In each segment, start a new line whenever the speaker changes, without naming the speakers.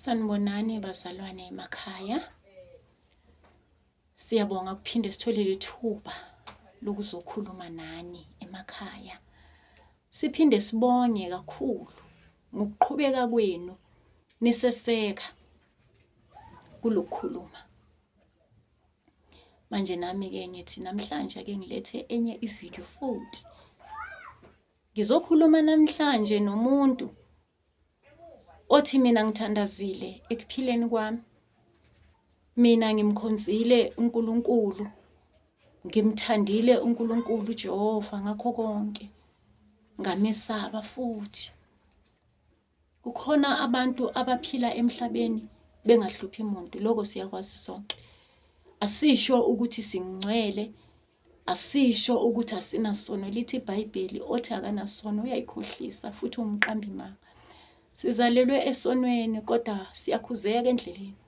Sanibonani bazalwane emakhaya. Siyabonga kuphinde sithole lethuba lokuzokhuluma nani emakhaya. Siphinde sibonge kakhulu ngokuqhubeka kwenu niseseka kulokukhuluma. Manje nami ke ngithi namhlanje ake ngilethe enye ivideo futhi. Ngizokhuluma namhlanje nomuntu othi mina ngithandazile ekuphileni kwami. Mina ngimkhonzile uNkulunkulu, ngimthandile uNkulunkulu uJehova ngakho konke, ngamesaba futhi. Kukhona abantu abaphila emhlabeni bengahluphi muntu, lokho siyakwazi sonke. Asisho ukuthi singcwele, asisho ukuthi asinasono. Lithi iBhayibheli othi akanasono uyayikhohlisa futhi umqambimanga. Sizalelwe esonweni kodwa siyakhuzeka endleleni.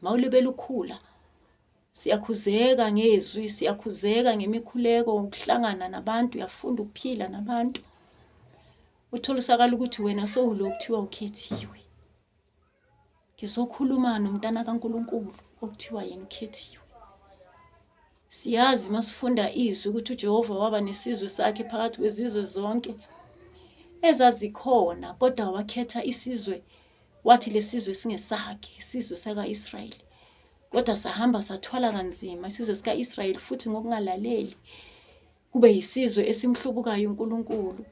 mawulebela ukhula siyakhuzeka ngezwi siyakhuzeka ngemikhuleko ukuhlangana nabantu uyafunda ukuphila nabantu utholisakala ukuthi wena sowulo kuthiwa ukhethiwe ngizokhuluma nomntana kaNkuluNkulu okuthiwa yena ukhethiwe Siyazi uma sifunda izwi ukuthi uJehova waba nesizwe sakhe phakathi kwezizwe zonke ezazikhona kodwa wakhetha isizwe wathi lesizwe singesakhe isizwe sakaIsrayeli kodwa sahamba sathwala kanzima isizwe sikaIsrayeli futhi ngokungalaleli kube yisizwe esimhlubukayo uNkulunkulu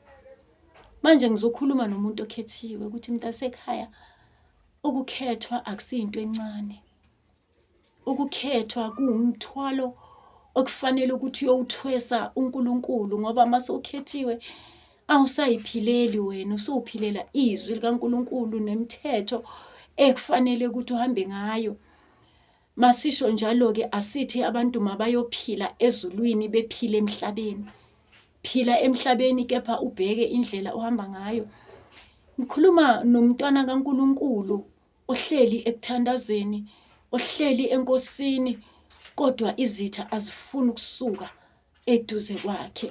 manje ngizokhuluma nomuntu okhethiwe ukuthi mntasekhaya ukukhethwa akusiyinto encane ukukhethwa kuwumthwalo okufanele ukuthi uyowuthwesa uNkulunkulu ngoba uma sewukhethiwe awusayiphileli wena usuwuphilela izwi likaNkulunkulu nemithetho ekufanele ukuthi uhambe ngayo masisho njalo-ke asithi abantu mabayophila ezulwini bephile emhlabeni phila emhlabeni kepha ubheke indlela ohamba ngayo ngikhuluma nomntwana kaNkulunkulu ohleli ekuthandazeni ohleli enkosini kodwa izitha azifuni ukusuka eduze kwakhe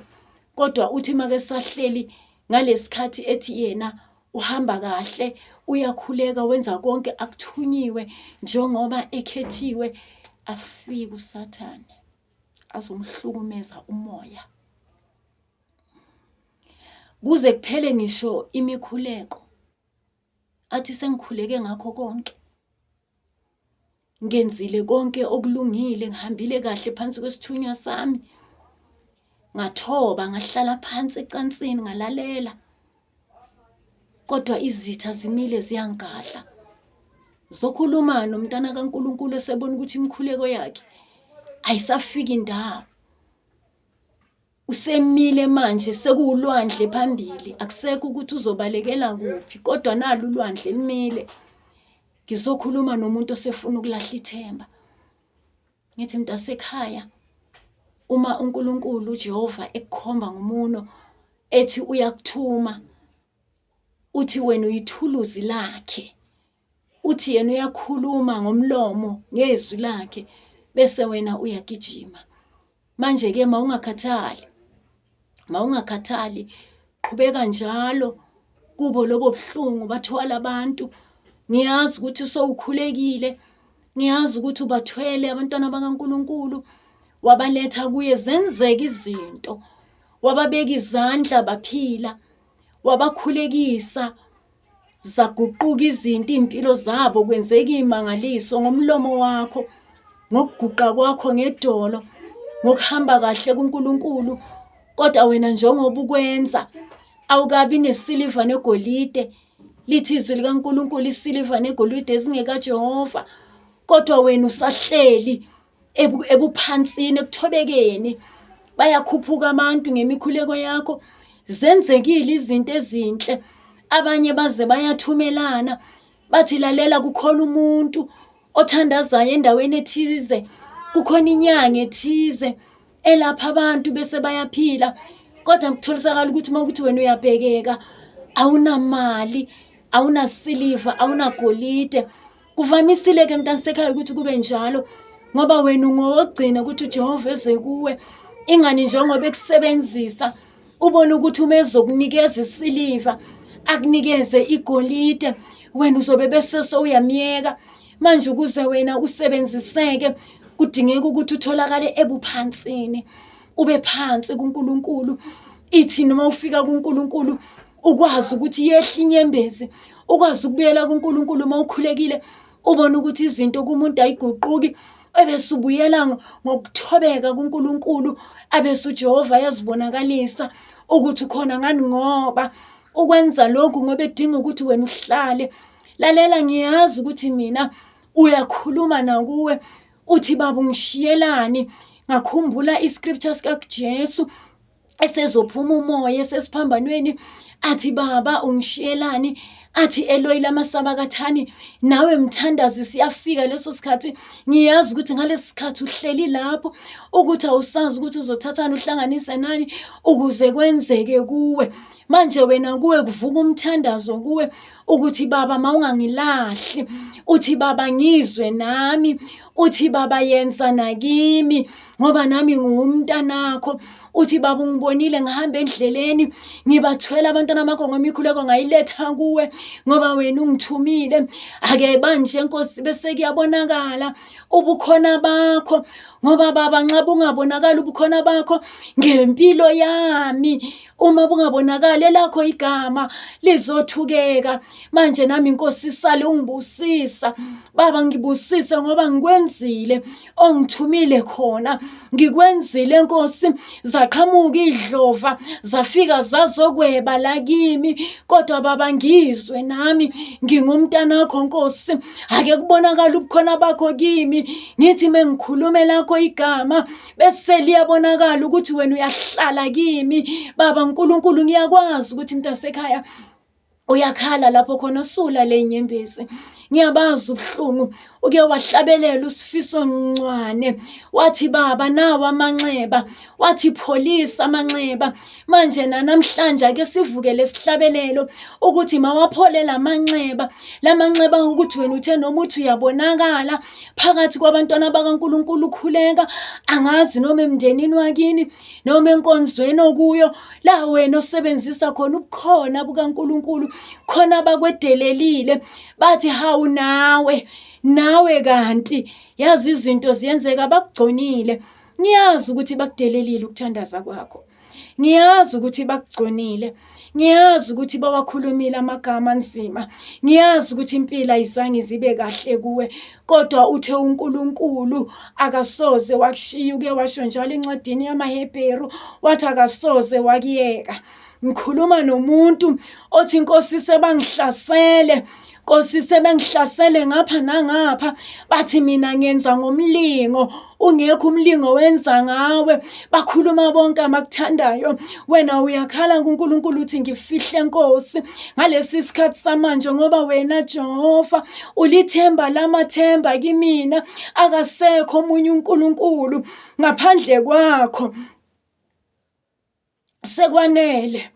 kodwa uthi make sahleli ngalesikhathi ethi yena uhamba kahle uyakhuleka wenza konke akuthunyiwe njengoba ekhethiwe afike usathane azomhlukumeza umoya kuze kuphele ngisho imikhuleko athi sengikhuleke ngakho konke ngenzile konke okulungile ngihambile kahle phansi kwesithunywa sami ngathoba ngahlala phansi ecansini ngalalela kodwa izitha zimile ziyangigadla zokhuluma nomntana kaNkuluNkulu esebona ukuthi imikhuleko yakhe ayisafiki ndawo usemile manje sekuwulwandle phambili akusekho ukuthi uzobalekela kuphi kodwa nalo ulwandle limile ngizokhuluma nomuntu osefuna ukulahla ithemba ngithi mntasekhaya uma uNkulunkulu uJehova ekukhomba ngomuno ethi uyakuthuma uthi wena uyithuluzi lakhe uthi yena uyakhuluma ngomlomo ngezwi lakhe bese wena uyagijima manje ke mawungakhathali mawungakhathali qhubeka njalo kubo lobo buhlungu bathwala abantu ngiyazi ukuthi sowukhulekile ngiyazi ukuthi ubathwele abantwana bakaNkuluNkulu wabaletha kuye zenzeka izinto wababeka izandla baphila wabakhulekisa zaguquka izinto iy'mpilo zabo kwenzeka iy'mangaliso ngomlomo wakho ngokuguqa kwakho ngedolo ngokuhamba kahle kuNkulunkulu kodwa wena njengoba ukwenza awukabi nesiliva negolide lithi izwi likaNkulunkulu isiliva negolide ezingekajehova kodwa wena usahleli ebuphansini ekuthobekeni bayakhuphuka abantu ngemikhuleko yakho zenzekile izinto ezinhle abanye baze bayathumelana bathi lalela kukhona umuntu othandazayo endaweni ethize kukhona inyanga ethize elapha abantu bese bayaphila kodwa kutholisakala ukuthi uma ukuthi wena uyabhekeka awunamali awunasiliva awunagolide kuvamisile ke mntana sekhaya ukuthi kube njalo ngoba wena ungowogcina ukuthi uJehova eze kuwe ingani njengoba ekusebenzisa ubone ukuthi uma ezokunikeza isiliva akunikeze igolide wena uzobe bese sowuyamyeka Manje ukuze wena usebenziseke kudingeka ukuthi utholakale ebuphansini, ube phansi kuNkulunkulu. Ithi noma ufika kuNkulunkulu ukwazi ukuthi yehle inyembezi, ukwazi ukubuyela kuNkulunkulu uma ukhulekile, ubone ukuthi izinto kumuntu ayiguquki, ebese ubuyela ngokuthobeka kuNkulunkulu, abese uJehova ayazibonakalisa ukuthi ukhona ngani ngoba ukwenza lokhu ngoba edinga ukuthi wena uhlale lalela ngiyazi ukuthi mina uyakhuluma nakuwe uthi baba ungishiyelani ngakhumbula iscripture sikaJesu esezophuma umoya esesiphambanweni athi baba ungishiyelani athi eloyi lamasaba kathani nawe mthandazi siyafika leso sikhathi ngiyazi ukuthi ngalesi sikhathi uhleli lapho ukuthi awusazi ukuthi uzothathani uhlanganise nani ukuze kwenzeke kuwe manje wena kuwe kuvuka umthandazo kuwe ukuthi baba mawungangilahli uthi baba ngizwe nami uthi baba yenza nakimi ngoba nami nguwumntanakho uthi baba ungibonile ngihamba endleleni ngibathwela abantwana bakho ngemikhuleko ngayiletha kuwe ngoba wena ungithumile ake banje nkosi bese kuyabonakala ubukhona bakho ngoba baba nxa bungabonakali ubukhona bakho ngempilo yami uma bungabonakali elakho igama lizothukeka manje nami inkosi isale ungibusisa baba ngibusise ngoba ngikwenzile ongithumile khona ngikwenzile nkosi zaqhamuka idlova zafika zazokweba la kimi kodwa baba ngizwe nami ngingumntana wakho nkosi ake kubonakala ubukhona bakho kimi ngithi mengikhulumela lakho igama bese liyabonakala ukuthi wena uyahlala kimi baba nkulunkulu ngiyakwazi ukuthi mntasekhaya uyakhala lapho khona usula le nyembezi ngiyabazi ubuhlungu uke wahlabelela usifiso ncwane wathi baba nawo amanxeba wathi pholisa amanxeba manje nanamhlanje ake sivukele isihlabelelo ukuthi mawaphole lamanxeba lamanxeba ukuthi wena uthe noma uthi uyabonakala phakathi kwabantwana bakaNkuluNkulu ukhuleka angazi noma emndenini wakini noma enkonzweni okuyo la wena osebenzisa khona ubukhona bukaNkuluNkulu khona bakwedelelile bathi hawu nawe nawe kanti yazi izinto ziyenzeka bakugconile ngiyazi ukuthi bakudelelile ukuthandaza kwakho ngiyazi ukuthi bakugconile ngiyazi ukuthi bawakhulumile amagama anzima ngiyazi ukuthi impilo ayizange izibe kahle kuwe kodwa uthe uNkulunkulu akasoze wakushiya uke washo njalo encwadini yamaHebheru wathi akasoze wakuyeka ngikhuluma nomuntu othi inkosi sebangihlasele Nkosi sebengihlasele ngapha nangapha bathi mina ngenza ngomlingo ungekho umlingo wenza ngawe bakhuluma bonke amakuthandayo wena uyakhala kuNkulunkulu uthi ngifihle Nkosi ngalesi sikhathi samanje ngoba wena Jehova ulithemba lamathemba kimina akasekho omunye uNkulunkulu ngaphandle kwakho sekwanele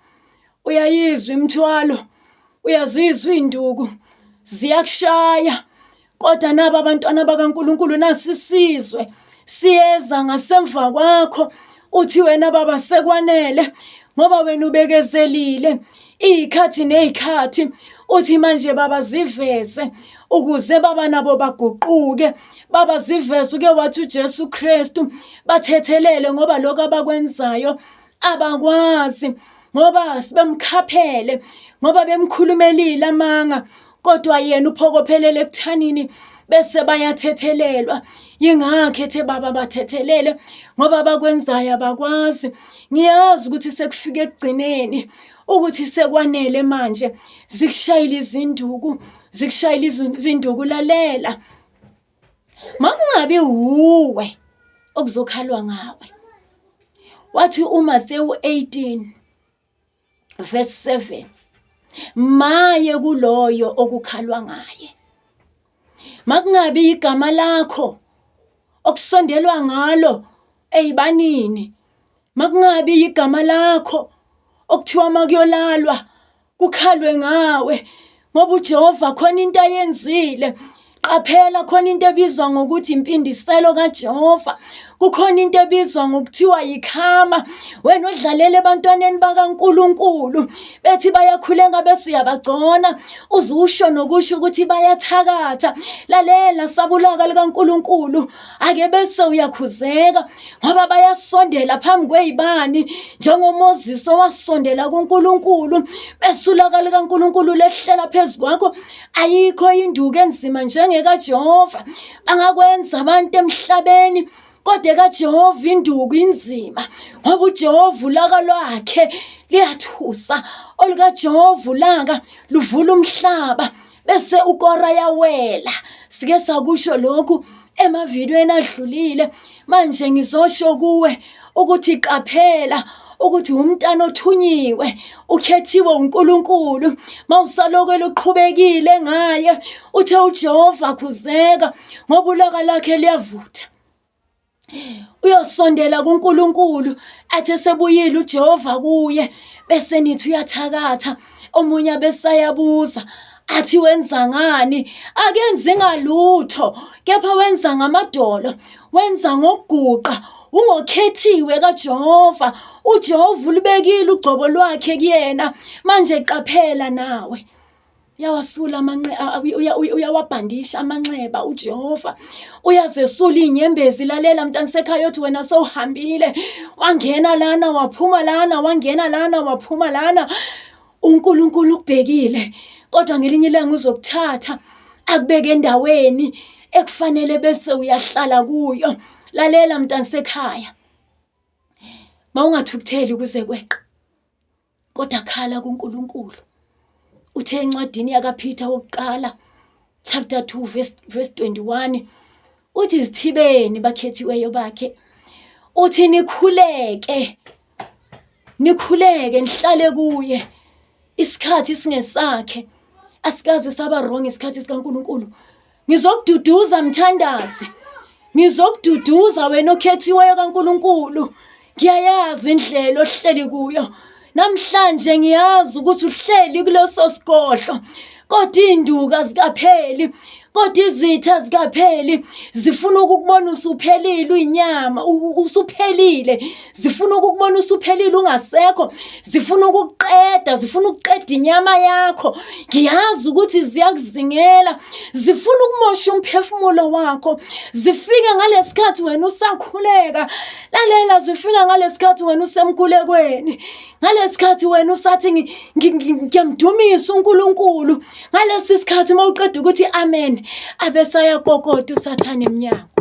uyayizwa imthwalo uyazizwa induku ziyakushaya kodwa nabo abantwana bakaNkuluNkulu nasisizwe siyeza ngasemva kwakho uthi wena baba sekwanele ngoba wena ubekezelile iy'khathi ney'khathi uthi manje baba ziveze ukuze baba nabo baguquke baba ziveze uke wathi uJesu Kristu bathethelele ngoba lokho abakwenzayo abakwazi ngoba sibemkhaphele ngoba bemkhulumelile amanga kodwa yena uphokophelele ekuthanini bese bayathethelelwa yingakho ethe baba bathethelele ngoba bakwenzayo abakwazi ngiyazi ukuthi sekufike ekugcineni ukuthi sekwanele manje zikushayile izinduku zikushayile izinduku lalela makungabi wuwe okuzokhalwa ngawe wathi uMathewu 18 verse 7 maye kuloyo okukhalwa ngaye makungabi igama lakho okusondelwa ngalo eyibanini makungabi igama lakho okuthiwa makuyolalwa kukhalwe ngawe ngoba uJehova khona into ayenzile qaphela khona into ebizwa ngokuthi impindiselo kaJehova kukhona into ebizwa ngokuthiwa yikhama wena odlalela ebantwaneni bakaNkuluNkulu bethi bayakhuleka bese uyabagcona uzusho nokusho ukuthi bayathakatha lalela sabulaka likaNkuluNkulu ake bese uyakhuzeka ngoba bayasondela phambi kweyibani njengoMoses owasondela kuNkulunkulu besulaka likaNkulunkulu lehlela phezu kwakho ayikho induku enzima njengekaJehova bangakwenza abantu emhlabeni kodwa kaJehova induku inzima ngoba uJehova ulaka lwakhe liyathusa olukajehova ulaka luvula umhlaba bese ukora yawela sike sakusho lokhu emavidweni adlulile manje ngizosho kuwe ukuthi qaphela ukuthi umntana othunyiwe ukhethiwe uNkulunkulu mawusaloko eluqhubekile ngaye uthe uJehova khuzeka ngoba ulaka lakhe liyavutha uyosondela kuNkulunkulu athi esebuyile uJehova kuye bese nithi uyathakatha omunye abesayabuza athi wenza ngani akenzi ngalutho kepha wenza ngamadolo wenza ngokuguqa ungokhethiwe kaJehova uJehova ulibekile ugcobo lwakhe kuyena manje qaphela nawe uyawasula amanxe uyawabhandisha amanxeba uJehova uyazesula inyembezi lalela mntana sekhaya othi wena sowuhambile wangena lana waphuma lana wangena lana waphuma lana uNkulunkulu ukubhekile kodwa ngelinye ilanga uzokuthatha akubeke endaweni ekufanele bese uyahlala kuyo lalela mntana sekhaya mawungathukutheli kuze kweqa kodwa khala kuNkulunkulu uthe encwadini yakaPeter wokuqala chapter 2 verse, verse 21 uthi izithibeni bakhethiweyo bakhe uthi nikhuleke nikhuleke nihlale kuye isikhathi singesakhe asikaze saba wrong isikhathi sikaNkuluNkulu Ngizokududuza mthandazi. Ngizokududuza wena okhethiweyo kaNkuluNkulu. Ngiyayazi indlela ohleli kuyo. Namhlanje ngiyazi ukuthi uhleli kuleso sigodlo. Kodwa induka zikapheli kodwa izitha zikapheli zifuna ukukubona usuphelile uyinyama usuphelile zifuna ukukubona usuphelile ungasekho zifuna ukukuqeda zifuna ukuqeda inyama yakho ngiyazi ukuthi ziyakuzingela zifuna ukumosha umphefumulo wakho zifike ngalesikhathi wena usakhuleka lalela zifika ngalesikhathi wena usemkhulekweni ngalesikhathi wena usathi ngiyamdumisa uNkulunkulu ngalesi sikhathi mawuqeda ukuthi amen abesaya kokota usathane emnyango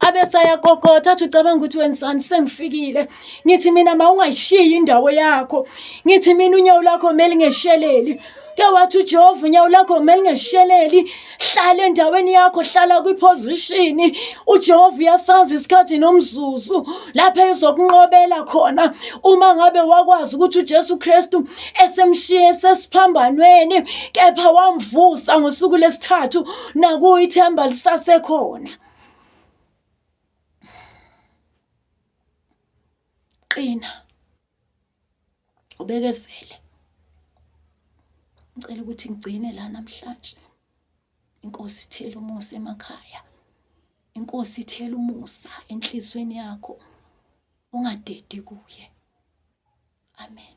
abesaya kokota athi ucabanga ukuthi wenzani sengifikile ngithi mina mawungashiyi indawo yakho ngithi mina unyawo lakho meli ngesheleli ke wathi uJehova unyawo lakho meli ngesheleli hlala endaweni yakho hlala kwiposition uJehova uyasazi isikhathi nomzuzu lapha ezokunqobela khona uma ngabe wakwazi ukuthi uJesu Kristu esemshiye sesiphambanweni kepha wamvusa ngosuku lesithathu nakuyithemba lisasekhona qina ubekezele ngicela ukuthi ngigcine la namhlanje inkosi ithela umusa emakhaya inkosi ithela umusa enhlizweni yakho ungadedi kuye amen